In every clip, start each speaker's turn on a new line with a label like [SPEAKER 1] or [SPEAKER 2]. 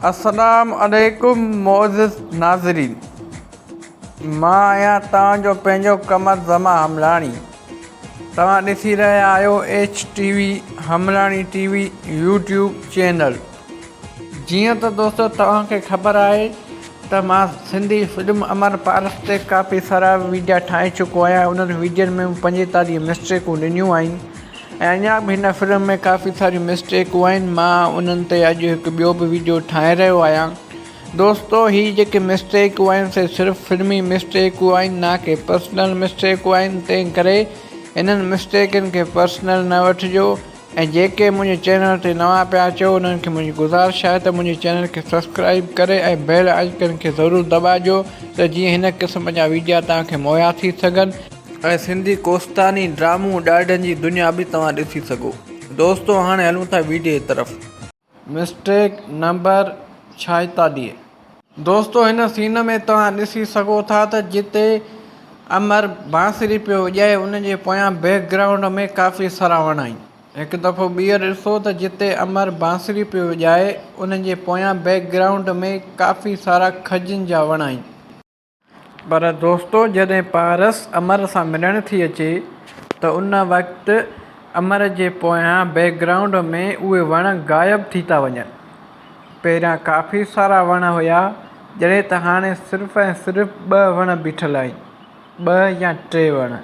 [SPEAKER 1] اسلام عليڪم معزز ناظرين مان آهيان توهان جو پنهنجو قمر زمان حملاڻي توهان ڏسي رهيا آهيو H T V Hamlani T V YouTube channel جيئن ته دوستو توهان کي خبر آهي ته مان سنڌي فلم امر پارس تي ڪافي سارا ويڊيا ٺاهي چڪو آهيان انهن ويڊين ۾ مون پنجيتاليهه مسٽيڪون ڏنيون آهن ۽ اڃا به هن فلم ۾ ڪافي ساريون مسٽيڪون آهن مان انهن تي اڄ هڪ ٻيو به ويڊيو ٺاهي رهيو آهيان دوستو هي جيڪي مسٽيڪون آهن سي صرف فلمي مسٽيڪون آهن نه ڪي پرسنل مسٽيڪون آهن تنهن ڪري انهن مسٽيڪن کي پرسنل نه وٺجو ۽ جيڪي منهنجي چينل تي نوان پيا اچو انهن کي منهنجي گذارش آهي ته منهنجي چينل کي سبسڪرائيب ڪري ۽ بيل آئيڪن کي ضرور دٻائجو ته جيئن هن قسم جا ويڊيا توهان کي مهيا ٿي سگهن ۽ سنڌي ڪوستاني ڊرامون ڏاڙهن جي دنيا به توهان ڏسي سگهو دوستو هاڻي هلون ٿا ويڊيو طرف. مسٽيڪ نمبر ڇائيتاليهه. دوستو هن سين ۾ توهان ڏسي سگهو ٿا ته جتي امر بانسري پيو وڄائي ان جي پويان بيڪ گرائونڊ ۾ ڪافي سراوڻ آهن هڪ دفعو ٻيهر ڏسو ته جتي امر بانسري پيو وڄائي ان جي پويان بيڪ گرائونڊ ۾ ڪافي سارا کجن جا وڻ آهن. پر دوستو جڏهن پارس امر سان ملڻ ٿي اچي ته ان وقت امر جي پويان بيڪ گرائونڊ ۾ اهي وڻ غائب ٿي ٿا وڃن. پهريان ڪافي سارا وڻ هيا جڏهن ته هاڻي صرف ۽ صرف ٻه وڻ بيٺل آهن. ٻه يا ٽي وڻ.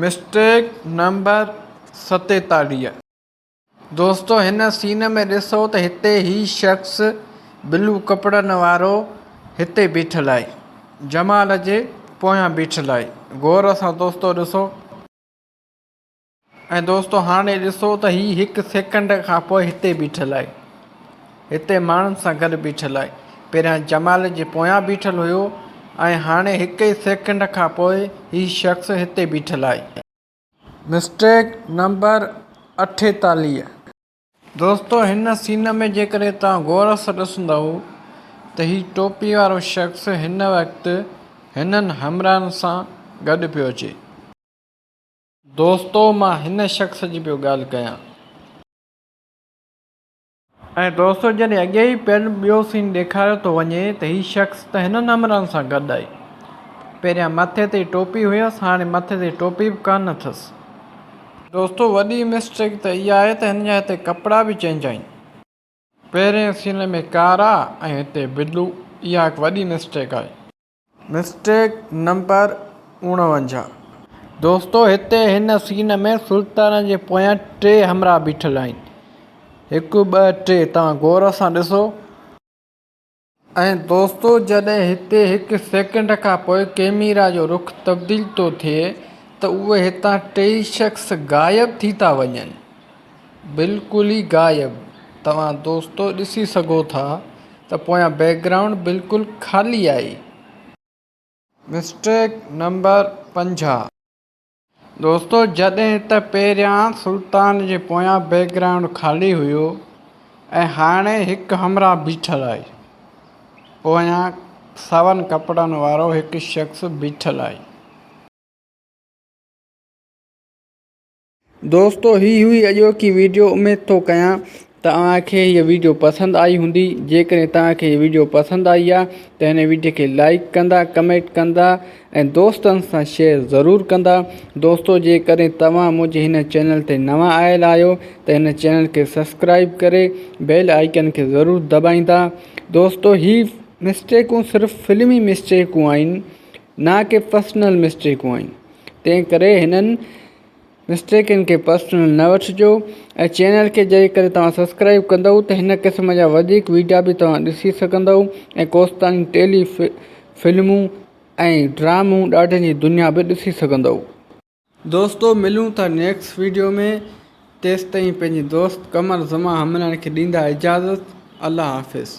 [SPEAKER 1] مسٽيڪ نمبر ستيتاليهه. دوستو هن سين ۾ ڏسو ته هتي هي شخص بلو ڪپڙن وارو هتي بيٺل آهي جمال جي پويان بيٺل آهي غور سان دوستو ڏسو ۽ دوستو هاڻي ڏسو ته هي هڪ سيڪنڊ کان پوء هتي بيٺل آهي هتي ماڻهن سان گڏ بيٺل آهي پهريان جمال جي پويان بيٺل هيو ۽ هاڻي هڪ ئي سيڪنڊ کان پوء هي شخص هتي بيٺل آهي. مسٽيڪ نمبر اٺيتاليهه. دوستو هن سين ۾ جيڪڏهن توهان غور سان ڏسندؤ ته هي ٽوپي وارو شخص هن وقت هنن همراهن سان گڏ پيو اچي. دوستو مان هن شخص جي پيو ڳالهه ڪيان. ۽ دوستو جڏهن اڳي ئي پيل ٻيو سين ڏيکاريو ٿو وڃي ته هي شخص ته هنن همراهن سان گڏ آهي. پهريان مٿي تي ٽوپي هيس هاڻي مٿي تي ٽوپي به ڪانه اٿس. دوستو وڏي مسٽيڪ ته اها آهي ته هن جا هتي ڪپڙا به چينج آهن. پهرين سين ۾ ڪارا ۽ هتي بلو اها هڪ وڏي مسٽيڪ آهي. مسٽيڪ نمبر اوڻونجاهه. دوستو هتي هن سين ۾ سلطان جي پويان ٽي همراهه بيٺل آهن هڪ ٻه ٽي توهان غور سان ڏسو. ۽ دوستو جڏهن هتي هڪ سيڪنڊ کان پوء ڪيميرا جو رخ تبديل ٿو ٿئي ته اهي هتان ٽيئي شخص غائب ٿي ٿا وڃن. بلڪل ئي غائب توهان دوستو ڏسي سگهو ٿا ته پويان بيڪ گرائونڊ بلڪل خالي آهي. مسٽيڪ نمبر پنجاهه. دوستو جڏهن ته پهريان سلطان جي پويان بيڪ گرائونڊ خالي هيو ۽ هاڻي هڪ همراهه بيٺل آهي پويان سون ڪپڙن وارو هڪ شخص بيٺل آهي. دوستو هي هئي اڄوڪي ويڊيو اميد ٿو ڪيان ته اوهان کي هيء ويڊيو پسند آئي هوندي جيڪڏهن توهان کي هيء ويڊيو پسند آئي آهي ته هن ويڊيو کي لائيڪ ڪندا ڪمينٽ ڪندا ۽ دوستن سان شيئر ضرور ڪندا دوستو جيڪڏهن توهان منهنجي هن چينل تي نوان آيل آهيو ته هن چينل کي سبسڪرائيب ڪري بيل آئيڪن کي ضرور دٻائيندا دوستو هي مسٽيڪون صرف فلمي مسٽيڪون آهن نه ڪي پرسنل مسٽيڪون آهن تنهن ڪري هنن مسٽيڪن کي پرسنل نه وٺجو ۽ چينل کي جي ڪڏهن توهان سبسڪرائيب ڪندؤ ته هن قسم جا وڌيڪ ويڊيا به توهان ڏسي سگهندؤ ۽ ڪوستاني ٽيلي فلمون ۽ ڊرامون ڏاڍن جي دنيا به ڏسي سگهندؤ. دوستو ملون ٿا نيڪس ويڊيو ۾ تيستائين پنهنجي دوست قمر زمان حملان کي ڏيندا اجازت الله حافظ.